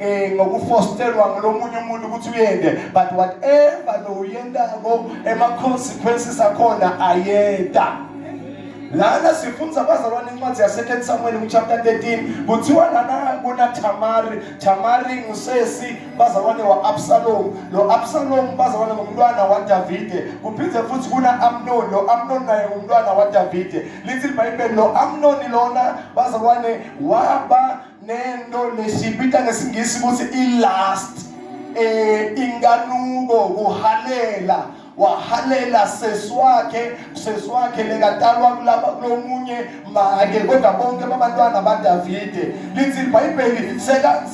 eh ngokufosterwa ngolomunye umuntu ukuthi uyende but whatever lo uyendako ema consequences akhona ayenda lana sifunza abazalwane incwadi yasecond samuel kuchapter 13 kuthiwa lana kunathamari thamari ngusesi bazalwane wa-absalomu lo absalomu bazalwane ngumntwana wadavide kuphinde futhi kuna-amnoni lo amnoni naye ngumntwana wadavide lithi libhayibheli lo amnoni lona bazalwane waba nento lesiyibita ngesingisi ukuthi i-last eh inkanuko kuhalela wahalela sesi wakhe sesi wakhe lekatalwa kulaba kulomunye make kodwa bonke babantwana badavide lithi ibhayibheli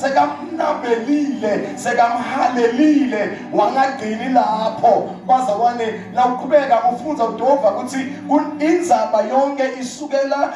sekamnabelile sekamhalelile wangagcini lapho baza wane nawuqhubeka ufunza udova ukuthi inzaba yonke isukela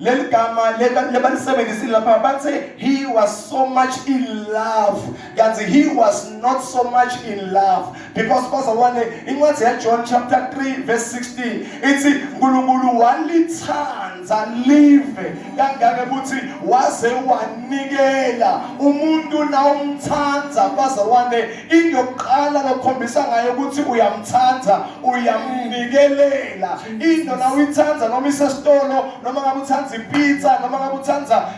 leli gama lebalisebenzisile lapha bathe he was so much in love kanti he was not so much in love because bazalwane incwadi yajohn chapter 3 verse 16 ithi nkulunkulu walithanda live kangake ukuthi waze wanikela umuntu nawumthanda bazalwane into yokuqala lokukhombisa ngayo ukuthi uyamthanda uyamnikelela into na uyithanda noma isesitolo noma ngabe uthanda ipizza noma ngabe uthanda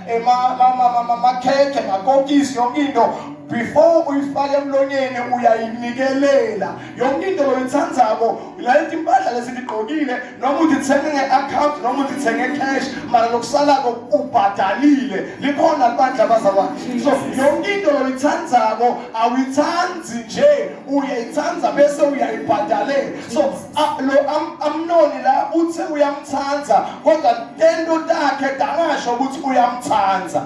amakhekhe eh, makokisi yonke into before uyifake emlonyeni uyayinikelela yonke into loyithandzako lalethi impahla lesindigqokile noma uzithenge nge-akhawunti noma uzithenge cash mara lokusalako ubhadalile likhona libandla bazalwane so yonke into loyithandzako awuyithandi nje uyayithanda bese uyayibhadalela so lo amnoni la uthe uyamthanda kodwa tento takhe dangasho ukuthi uyamthanda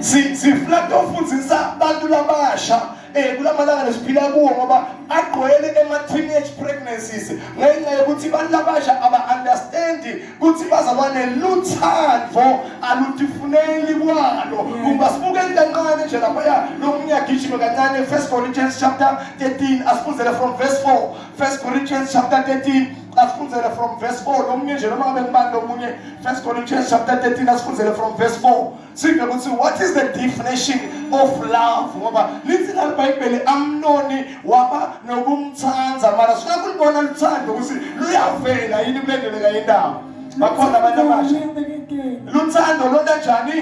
sifuna tofundisa abantu labasha eh kulamalanga nesiphila kuwo ngoba agqwele ema teenage pregnancies ngenxa yokuthi abantu abasha aba understand ukuthi bazalwane luthando alutifuneli kwalo kuba sibuke kancane nje lapha lo munyagijima kancane first corinthians chapter 13 asifundele from verse 4 first corinthians chapter 13 asifundele from verse 4 lomunye nje noma ngabe ngibani lomunye first corinthians chapter 13 asifundele from verse 4 sive ukuthi what is the definition of love ngoba lithi la bhayibheli amnoni waba nokumthanda mara sifuna kulibona luthando ukuthi luyavela yini kulendeleka yendaba bakhona abantu abasha luthando londa njani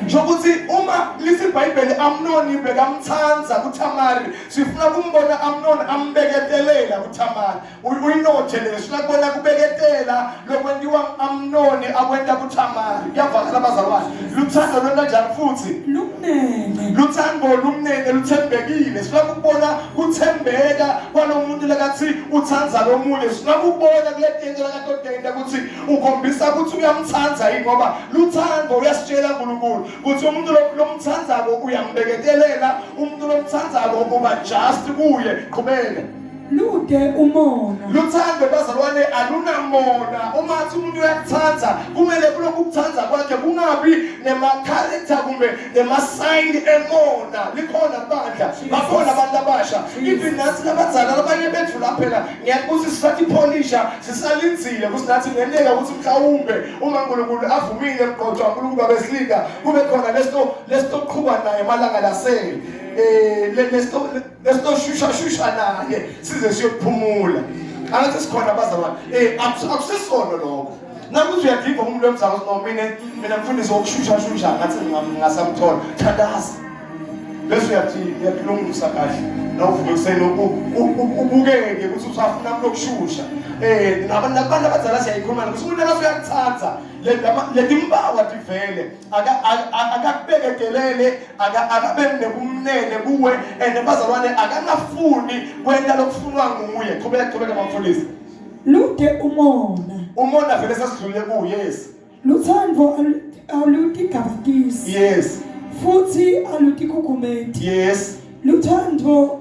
shokuthi uma lithi ibhayibheli amnoni bekamthanda kuthamari sifuna kumbona amnoni ambeketelela kuthamari uyinothe leso nakubona kubeketela lokwentiwa amnoni akwenta kuthamari kuyavakala bazalwane luthando lwenta njani futhi lumnene luthando lumnene luthembekile sifuna kubona kuthembeka kwalomuntu lakathi uthanda lomunye sifuna kubona kuletento lakatodenda ukuthi ukhombisa ukuthi uyamthanda yini ngoba luthando uyasitshela uNkulunkulu ukuthi umuntu lomthandako uyambeketelela umuntu lomthandako uba just kuye qhubeke lude umona luthando bazalwane alunamona uma athi umuntu uyakuthanda kumele kulokhu ukuthanda kwakhe kungabi nemakharacter kumbe nemasayini emona likhona bandla bakhona abantu abasha even nathi labadzala labanye bethu la phela ngiyakuthi sisathi pholisha sisalinzile kusinathi nenteka ukuthi mhlawumbe uma unkulunkulu avumile mqotho wankulunkulu babesilika kube khona lesto lestoqhuba naye malanga lasele um eh, lesto esinoshusha-shusha naye size siyokuphumula angathi sikhona abazalwane um akusisona lokho nakuthi uyadiva umuntu wemzalo no mina mina mfundisi wokushushashusha ngathi ngasamthola thandaza bese uyathi uyakulungisa kahle nawuvuke ekuseni ubukeke ukuthi usafuna umuntu okushusha um nabantu abadala siyayikhuluma ukuthi umuntu akathi uyakuthanda letimpawa tivele akakubekedelele akabe nebumnene kuwe and abazalwane akangafuni kwenta lokufunwa nguye qhubeka qhubeka bamfundisi lude umona umona vele sesidlule kuye yes luthando alutigabatisi yes futhi alutikukumeti yes luthando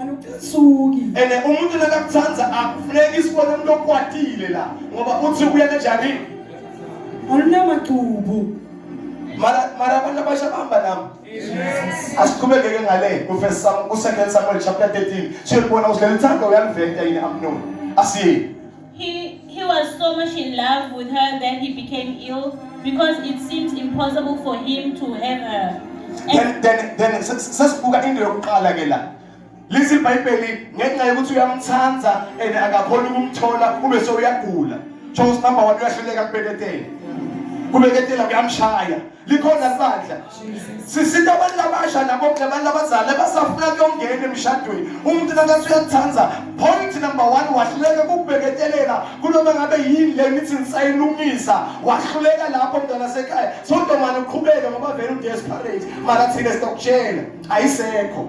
anucasuki ene umuntu nakakuthanda akufuneki isibone umuntu okwatile la ngoba uthi ubuya kanjani alunamacubu mara mara abantu abasha bahamba nami asiqhubekeke ngale kufirst sam ku-second samuel chapter 13 siyolibona usilelithando uyaliveta yini amnoni asiye He, he was so much in love with her that he became ill because it seems impossible for him to have her. And then, then, then sesibuka into yokuqala ke la lithi ibhayibheli ngenxa yokuthi uyamthanda and akakhoni ukumthola ube sewuyagula so number one uyahluleka kubeketela kubeketela kuyamshaya likhona libandla sisita abantu labasha nabo labantu labazala basafuna kuyongena emshadweni umuntu nakathi uyakuthanda point number one wahluleka kukubeketelela kunoma ngabe yini le nithi nisayilungisa wahluleka lapho mntwana sekhaya so ntomane uqhubeke ngoba vele udesperate makathile sitokutshela ayisekho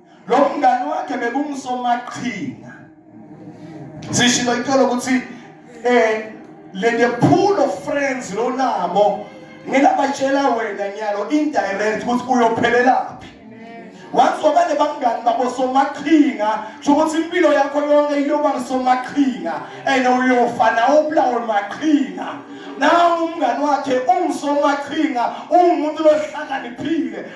lo mngani wakhe bekungusomaqhinga sishilo ithola ukuthi eh le the pool of friends lonabo ngilabatshela wena nyalo indirect ukuthi uyophelelaphi once wabane bangani babo somaqhinga kusho ukuthi impilo yakho yonke iyoba ngusomaqhinga and uyofa nawe ubulawe maqhinga nawe umngani wakhe ungusomaqhinga ungumuntu lohlakaniphile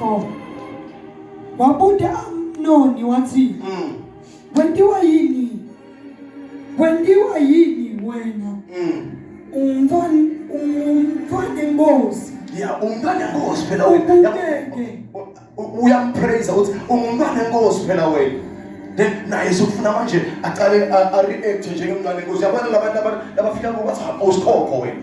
4 wabuda amnoni wathi mm. wendiwa yini wendiwa yini wena mm. umfana umfana inkosi ya umntwana inkosi phela wena uyampraise uthi umntwana inkosi phela wena then naye sokufuna manje aqale a react njengemntwana inkosi yabona labantu abafika ngokuthi awusikhokho wena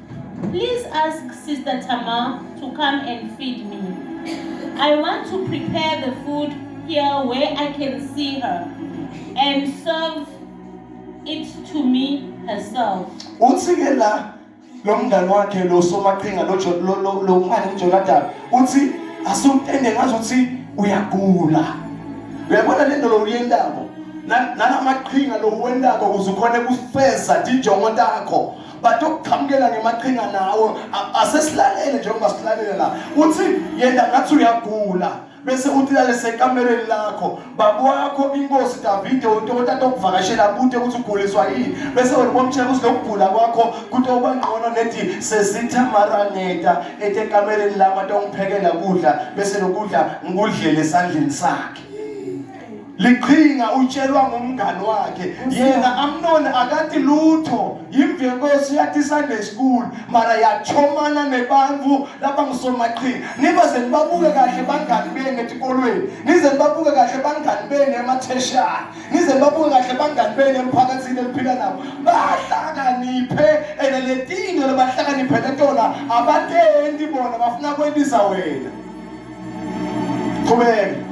Please ask Sister Tamar to come and feed me. I want to prepare the food here where I can see her and serve it to me herself. Uthi ke la lo mngane wakhe lo somaqhinga lo jo- lo lo lo ngani uJonathan uthi asumtende ngazi ukuthi uyagula. Uyabona lento lo uyendako. Na- Nala maqhinga lo uwendako ukuze ukhone kufeza tinjongo takho. but okuqhamukela ngemaqhinga nawo asesilalele njengoba silalele la uthi yena ngathi uyagula bese uthi lalese ekamereni lakho baba wakho inkosi Davide untokota tokuvakashela kude ukuthi uguliswa yini bese wena bomtshela ukuthi lokugula kwakho kutoba ngcono nethi sesitha maraneta etekamereni lama tongiphekela kudla bese lokudla ngikudlele esandleni sakhe liqhinga utshelwa ngumngani wakhe yena amnoni akathi lutho yimvenkosi yathi sunday school mara yachomana nebantu laba ngisomaqhinga niba ze nibabuke kahle bangani benu etikolweni nize nibabuke kahle bangani benu ematheshana nize nibabuke kahle bangani benu emphakathini eliphila nabo bahlakaniphe and le tinto lebahlakaniphele tona abatendi bona bafuna kwendisa wena qhubeka